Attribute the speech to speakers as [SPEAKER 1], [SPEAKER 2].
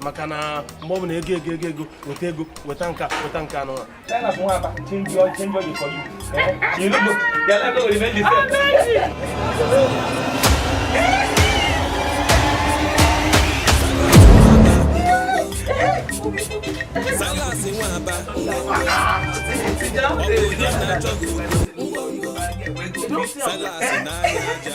[SPEAKER 1] maka na mgbe ọ bụla ego ego ego ego weta ego weta nka weta nka anụ Salasi nwaba Salasi
[SPEAKER 2] na-anya aja